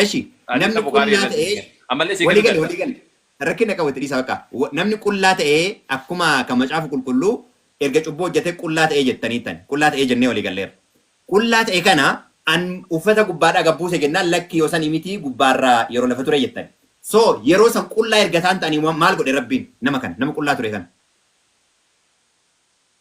eshi Ati namni taphu gaarii qullaa irratti ta'ee hojjete. Ammallee sii walii kennu gale walii danda'a. gale rakkina qabu itti dhiisa bakka Wa- namni qullaa ta'ee akkuma kan macaafa qulqulluu erga cubbuu hojjetee qullaa ta'ee jettanii tan qullaa ta'ee jennee walii galleera qullaa ta'e kana an uffata gubbaadhaa gad buuse jennaan lakki yoo sanii mitii gubbaarraa yeroo lafa ture jettan so yeroo san qullaa erga isaan ta'anii ma- maal godhe rabbiin nama kana nama qullaa ture kana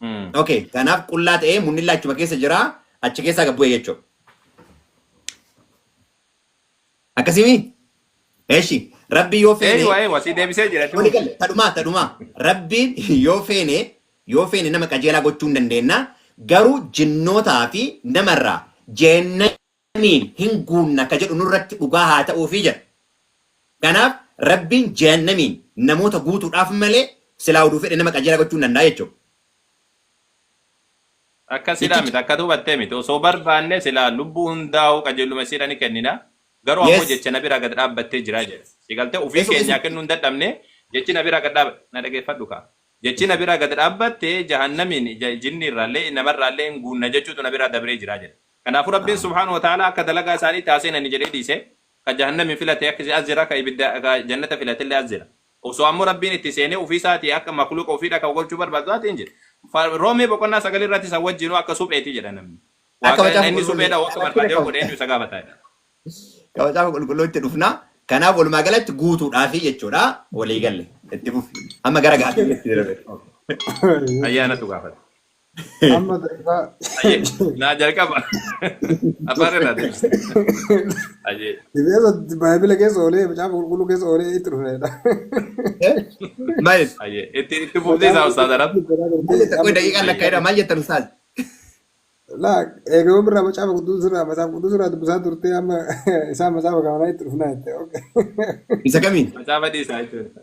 Mm. Okay, kanaaf qullaa ta'ee munnilla achuma keessa jira, achi keessaa gad bu'e jechuudha. Akkasimi? Eshi, rabbi yoo feene, Eeywa eeywa si deebisee jira wali duuba. galle, tadhumaa, tadhumaa, rabbiin yoo feene, yoo feene nama qajeelaa gochuu hin dandeenna, garuu jinnootaa fi namarraa jeenna Samiin hin guunna ka jedhu nurratti dhugaa haa ta'uufii jedha. Kanaaf Rabbiin Jahannamiin namoota guutuudhaaf malee silaa oduu fedhe nama qajeelaa gochuu hin danda'a jechuudha. Akkasiidhaa Jechicha. miti akka ati hubattee miti osoo barbaanne silaa lubbuu hundaa'uu qajeelluma isiidha ni kennina garuu ammoo Yes. jecha na biraa gad dhaabbattee jira jedha si galtee ofii Esu keenyaa esu. kennuu hin dadhabne jechi na biraa gad dhaabba na dhageeffadhu kaa jechi na biraa gad dhaabbattee jahannamiin ja- jinni irraallee namarraallee hin guunna jechuutu na biraa dabree jira jedha Kanaafu Rabbiin subhaanahu wa ta'aalaa akka dalagaa isaaniitti haa seenani jedhee dhiise. Ka jahannami filate akkisi as jira, ka ibidda, ka jannata filatelle as jira. Osoo ammoo Rabbiin itti seenee ufii isaatii akka makhluuqa ufii dhaka'u golchuu barbaadu taate hin jiru. Fa, Roomee boqonnaa 9 irratti isa wajjiinuu akka supheeti jedha namni. Akka Waaqa macaafa inni suphee qulqulluu. dha'u akka Rakkina barbaade yoo qabu. godhe eenyu isa gaafata jedha. Ka macaafa qulqulluu itti dhufna. Kanaaf walumaa galatti guutuudhaafi jechuudha. Walii galle. Itti fufi. Amma gara gaaffiitti itti darbe. Ayyaanatu gaafata. Amma gaafa Ayyee naa jalqaba afaan irraa deebisa. Ayyee Dibbeessa baay'ina keessa oolee macaafa qulqulluu keessa oolee itti dhufeedha. Maal? ayyee itti itti fufnee isaa ustaaz arab. Maal jetta? Qoy daqiiqaan lakkaa jedhaa maal jettan ustaaz? Laa eegama birraa macaafa qulqulluu irraa macaafa qulqulluu irraa dubbisaa turtee amma isaan macaafa kamanaa itti dhufnaa jette. Isa kamiin? Macaafa dhiisaa jechuudha.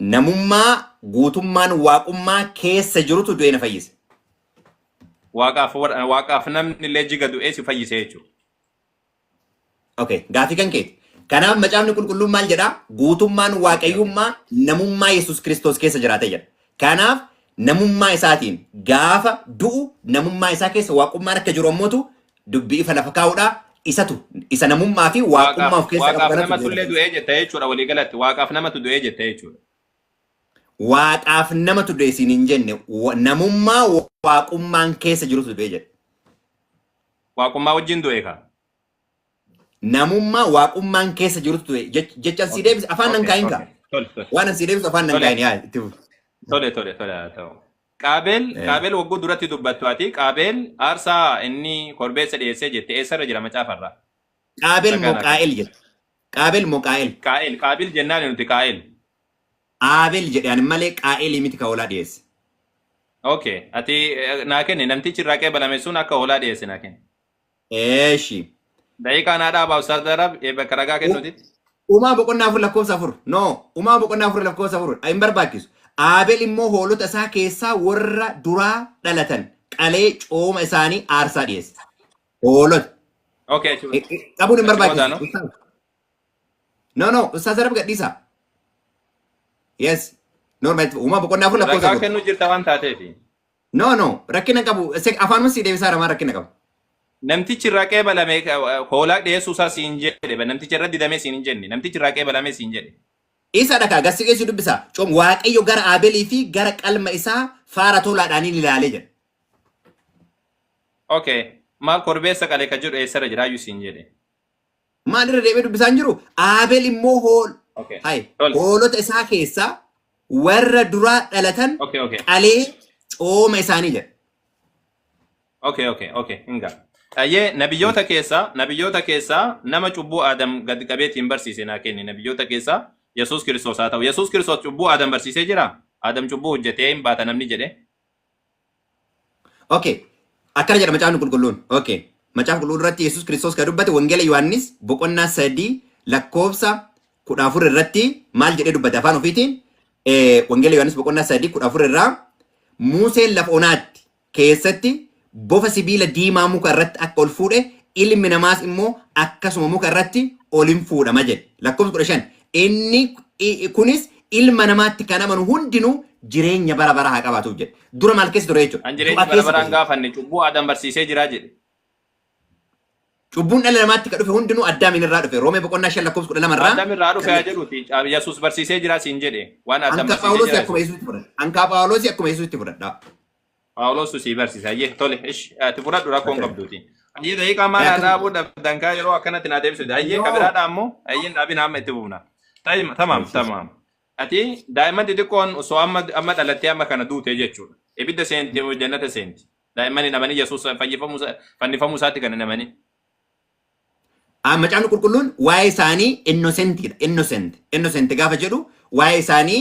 Namummaa guutummaan Waaqummaa keessa jirutu du'ee na fayyise. Waaqaaf warra- waaqaaf namni illee jiga du'ee si fayyise jechuudha. Okay, gaafii kan keeti. Kanaaf macaafni qulqulluun maal jedhaa? Guutummaan waaqayyummaa namummaa Yesuus Kiristoos keessa jiraate jedha. Kanaaf namummaa isaatiin gaafa du'u namummaa isaa keessa waaqummaan akka jiru ammotu dubbii ifa lafa kaa'udha. Isatu isa namummaa fi waaqummaa Waaqaaf of keessaa qabu waaqaaf kanatu namatu du'e illee lafa du'ee jetta jechuudha walii galatti waaqaaf namatu du'ee jetta jechuudha. Waaqaaf namatu du'e siin hin jenne wa- namummaa wa- waaqummaan keessa jirutu du'e jedhe. Waaqummaa wajjin du'e kaa. Namummaa waaqummaan keessa jirutu ture. Jech- Jechan sii Okay. deebise afaan nan Okay. kaa'in kaa. Okay. Tole tole. Waan an sii deebisu afaan nan Tole. kaa'in yaa itti fufi. Tole tole tole haa ta'u. Qaabeel Eh. qaabeel wagguu duratti dubbattu ati qaabeel aarsaa inni korbeessa dhiyeessee jette eessarra jira macaafarraa? Qaabel Ragaan moo akka- qaa'el jedhe. Qaabel moo qaa'el. Qaa'eel qaabil jennaan nuti qaa'eel. Aabel jedhe ani malee qaa'elii miti ka hoolaa dhiyeesse. Okay. Ati eh, naa kenne namtichi irraa qeebalame sun akka hoolaa dhiyeesse naa kenne. Eeshi. Daqiiqaa naa dhaabaa Ustaaz Darab ee bakka ragaa kennuutitti. Uumaa boqonnaa afur lakkoofsa afur. No. Uumaa boqonnaa afur lakkoofsa afur. Hin barbaachisu. Aabel immoo hoolota isaa keessaa warra duraa dhalatan qalee cooma isaanii aarsaa dhiyeesse. Hoolota. Okay. achi- Eh, eh, Qabuun hin achi booda barbaachisu. no? Ustaaz. No, no. Ustaaz Darab gadhiisaa. Yes. Normal. Uumaa boqonnaa afur lakkoofsa Ragaa afur. kennuu jirta waan taateefi. No, no, rakkina qabu. Se- Afaanuma sii deebisaa ramaa rakkina qabu. Namtichi irraa qeebalame eh, hoolaa dhiyeessuu isaa siin jedhe. ba- Namticha irra didamee siin hin jenne. Namtichi irraa qeebalame siin jedhe. Isa dhakaa gassi geessu dubbisa. Coom waaqayyo gara Aabelii fi gara qalma isaa faara tolaadhaan hin ilaalee jedha. Okay. Maal korbeessa qale ka jedhu eessarra jira iyyuu siin jedhe. Maal irra deebi'ee dubbisaa hin jiru? Aabel immoo hool Okay. hay Tole. hoolota isaa keessaa warra duraa dhalatan Okay, okay. qalee cooma isaanii jedha. Okay, okay, okay. Hinga. Ayyee nabiyyoota keessaa nabiyyoota keessaa nama cubbuu Aadam gad qabeetiin barsiise naa kenni nabiyyoota keessaa Yesuus Kiristoos haa ta'u. Yesuus Kiristoos cubbuu Aadam barsiisee jira. Aadam cubbuu hojjetee hin baata namni jedhe. Okay. Akkana jedha macaafni qulqulluun. Okay. Macaafa qulqulluu irratti Yesuus Kiristoos kan dubbate Wangeela Yohaannis boqonnaa sadii lakkoofsa kudha afur irratti maal jedhee dubbate afaan ofiitiin eh, Wangeela Yohaannis boqonnaa sadii kudha afur irraa Muuseen lafa onaatti keessatti bofa sibiila diimaa muka irratti akka ol fuudhe ilmi namaas immoo akkasuma muka irratti ol in fuudhama jedhe. Lakkoofsa kudha shan Inni i- kunis ilma namaatti kan amanu hundinuu jireenya bara baraa haa qabaatuuf jedhe. Dura maal keessa ture jechuudha? Kan jireenya Du'a bara keessa baraan ture. gaafanne cubbuu Adam barsiisee jira jedhe. Cubbuun dhala namaatti kan dhufe hundinuu Addaamiin irraa dhufe. Roomee boqonnaa 5 lakkoofsa 12 irraa. Adam irraa dhufe haa jedhuuti. Yesuus barsiisee jira siin jedhe. Waan Adam Anka barsiisee Phaawulosii jira. akkuma Yesuusitti fudhadha. Anka Phaawulosii akkuma Yesuusitti fudhadha. Phaawulosu sii barsiisa. Ayyee tole ish ati fudhadhu rakkoon Akkana. qabduuti. Ayyee daqiiqaa maal haa Akkana. dhaabuu dhabdan kaa yeroo akkanatti naa deebisuudha. Ayyee Yoo. kabiraadha ammoo ayyeen dhaabina amma itti buufna. Tayim- Tamaam Barsiisa. tamaam. Ati daa'imman xixiqqoon osoo amma amma dhalattee amma kana duute jechuudha. Ibidda seenti jannata seenti. Daa'imman hin amanii Yesuus fayyifamuu isaa- fannifamuu isaatti kan hin amanii. Ah, Macaafni qulqulluun waa'ee isaanii innoosentiidha. Innocent. Innocent gaafa jedhu waa'ee isaanii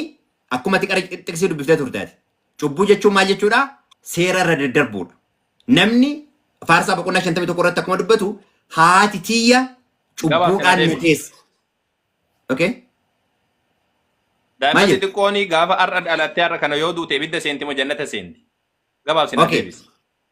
akkuma ati qara xiqsii dubbiftee turte ati. Cubbuu jechuun maal jechuudha? Seera irra daddarbuudha. Namni faarsaa boqonnaa 51 irratti akkuma dubbatu haati tiyya Gabaabsina cubbuudhaan na deebi. teesse. Okay? Daa'imman Maayil. xixiqqoon gaafa har'a dhalattee har'a kana yoo duute ibidda seenti moo jannata seenti? Gabaabsinaan Okay. deebisi.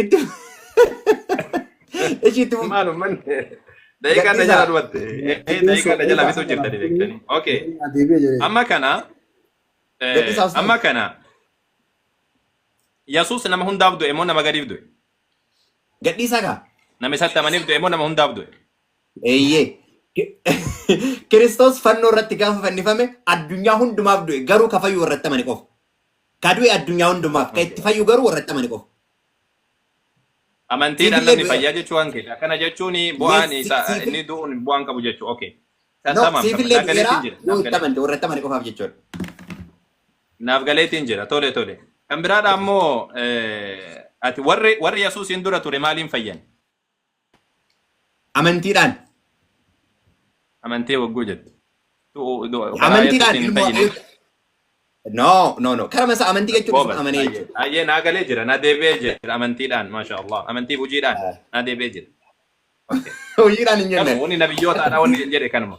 Itti ishi itti fufi. Maal ummanni daqiiqaa na jala dhumatte. Eh, Daqiiqaa na jala bituu jirtanii beektanii. Okay. Deebi'ee jedhee. Amma kana eh, Gadhiisaa ustaaz. amma kana Yesuus nama hundaaf du'e moo nama gadiif du'e? Gadhiisaa kaa. Nama isatti amaniif du'e moo nama hundaaf du'e? Eeyyee. Kiristoos fannoo irratti gaafa fannifame addunyaa hundumaaf du'e garuu kafayyuu irratti amane qofa. Ka du'e addunyaa hundumaaf, ka itti fayyu garuu warra itti amane qofa. Amantiidhaan Siifillee namni du'eera. fayyaa jechuu waan keeti. Akkana jechuun bu'aan Yes, isaa siifil- inni du'uun bu'aan qabu jechuu. Okay. No, Tamam, siifillee naaf du'eera galeetiin jira. yoo Naaf itti galee. amante warra itti amane qofaaf jechuudha. Naaf galeetiin jira. Tole tole. Kan biraadha ammoo eh, ati warri warri Yesuusiin dura ture maaliin fayyan? Amantiidhaan. Amantee waggoo jettu. Amantiidhaan ilmoo. No, no, no. Karama isaa amantii jechuun isuma amanee jechuudha. Ayyee naa galee jira, naa deebi'ee jira amantiidhaan, maasha Allah. Amantiif hojiidhaan naa deebi'ee jira. Hojiidhaan hin jenne. Wanni nabiyyootaadha wanni hin jedhe kanuma.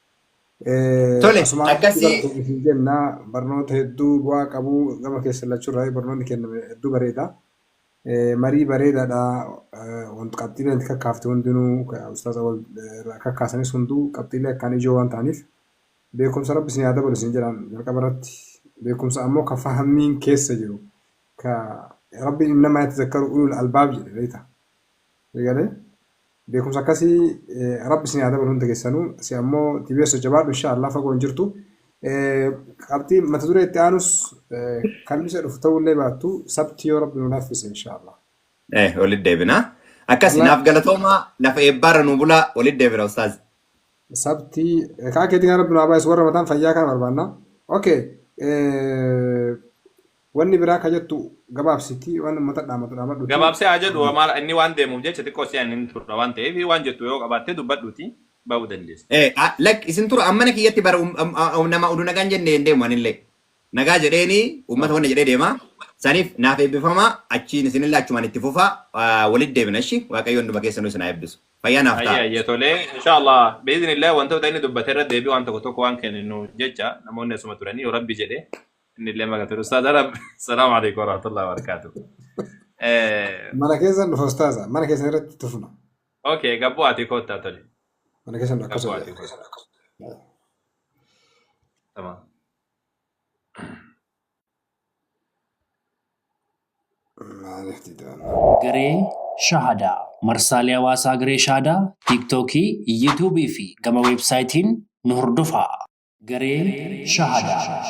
Tole, Asumaan akkasii- bartuu isin jenna barnoota hedduu bu'aa qabu gama keessa lachuurraa barnoonni kenname hedduu bareeda. Eh, Marii bareedaadha. Eh, Wanti qabxiilee nuti kakkaafte hundinuu ka- ustaaz awwal eh, irraa kakkaasanis hunduu qabxiilee akkaan ijoo waan ta'aniif beekumsa rabbi isin haa dabalu isin jedhaan jalqaba irratti beekumsa ammoo ka fahammiin keessa jiru ka rabbi innamaa yatazakkaru ulul albaab jedhe beekta. Eegalee? Beekumsa akkasi rabbi isin haa dabalu hunda kessanu si ammo tbso jabaadhu insha allah fagoo hin jirtu qabxii mata duree itti aanus kalmisa dhufu ta'uu illee baattu sabti yoo rabbi nu laaffise insha allah Eh, walitti deebina. Akkasi naaf galatoomaa lafa eebbaarra nu bulaa walitti deebina ustaaz. sabti kaa keetii kan rabbi nu haa baay'isu warra mataan fayyaa kana barbaanna okay Wanni biraa ka jettu gabaabsiti waan ummata dhaamatu dhaamadhuti. Gabaabsee haa jedhu hoo maal inni waan deemuuf jecha xiqqoo si'an hin turra waan ta'eef waan jettu yoo qabaatte dubbadhuti ba'uu dandeessa. Lakki isin tura an mana kiyyatti bar nama udu nagaan jenne hin deemu anillee nagaa jedheeni ummata wanna jedhee deema saniif naaf eebbifama achiin isinillee achumaan itti fufa walitti deebina ishi waaqayyo hunduma keessanuu isin haa eebbisu fayyaa naaf Hayyee ta'a. hayyee tolee insha Allah bi'iznillah wantoota inni dubbate irra deebii waan tokko tokko waan kenninu jecha namoonni asuma turanii yoo rabbi jedhe Inni illee maqaa ture. Ustaaz Arab. Salaamu alaikum warahmatullahi wabarakatuh. Eh, Mana keessan dhufa ustaaza. Mana keessan irratti tufna. Okay, gabboo ati koottaa tole. Mana keessan dhufa Gabboo akkasuma ati jedha. koottaa. Tamam. Maaliif didaan? Garee Shahadaa. Marsaalee hawaasaa Garee Shahadaa, Tiiktookii, Yuutuubii fi gama weebsaayitiin nu hordofaa. Garee Shahadaa.